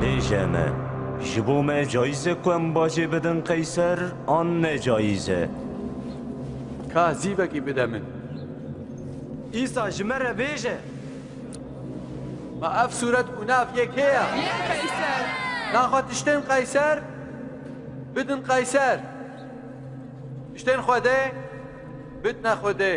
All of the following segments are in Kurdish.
Bêje me, ji bo me cayîz e ku em bacê bidin qeyser an ne cayîz e? Ka zîvekî bide min. Îsa ji me re bêje, Ma ev sûret û nav yê kê ye? Yê Qeyser. Naxwe tiştên Qeyser bidin Qeyser. Tiştên Xwedê bidne Xwedê.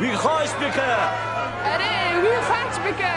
Wî xaç bike! Erê, wî xaç bike!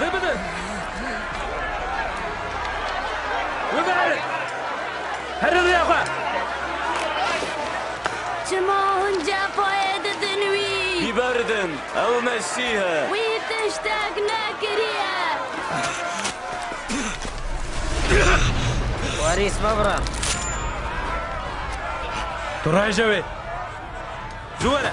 Rê bidin! Wê biherin! Herin rêya xwe! Çima hûn cefayê didin wî? Biberdin! Ew Mesîh e! Wî tiştek nekiriye! Warîs babra! Tu raêje wê! Zû were!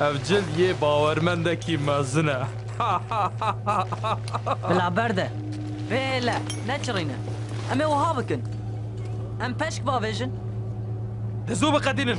Ev cil yê bawermendekî mezin e. Bila berde. Vê hêle neçirîne. Em ê wiha bikin. Em peşk bavêjin. Dizû biqedînin.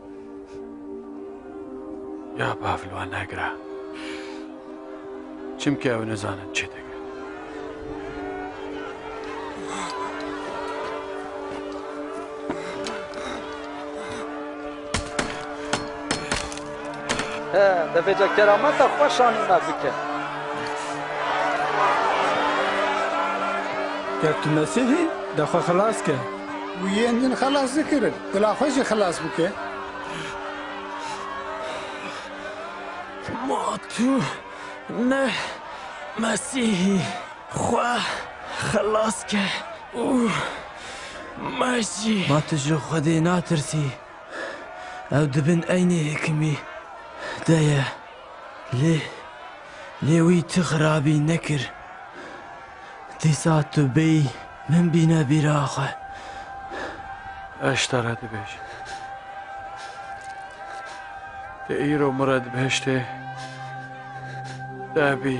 Ya bav li wan negira. Çimkî ew nizanin çi dikin. He, devêca kerameta xwe şanî me bike. Ger tu Mesîhî, de xwe xilas ke. Û yên din xelas dikirin. Dila xwe jî xilas bike. Ma tu ne Mesîhî xwe xilas ke û me jî. Ma tu ji Xwedê natirsî? Ew di bin eynî hikimî de ye. Lê lê wî tu xirabî nekir. Dîsa tu bêyî min bîne bîra xwe. Eş te re dibêjim. Te îro min re di behiştê de bî.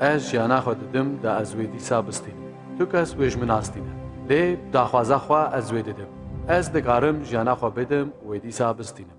Ez jiyana xwe didim da ez wê dîsa bistînim. Tu kes wê ji min astîne. Lê bi daxwaza xwe ez wê didim. Ez dikarim jiyana xwe bidim û wê dîsa bistînim.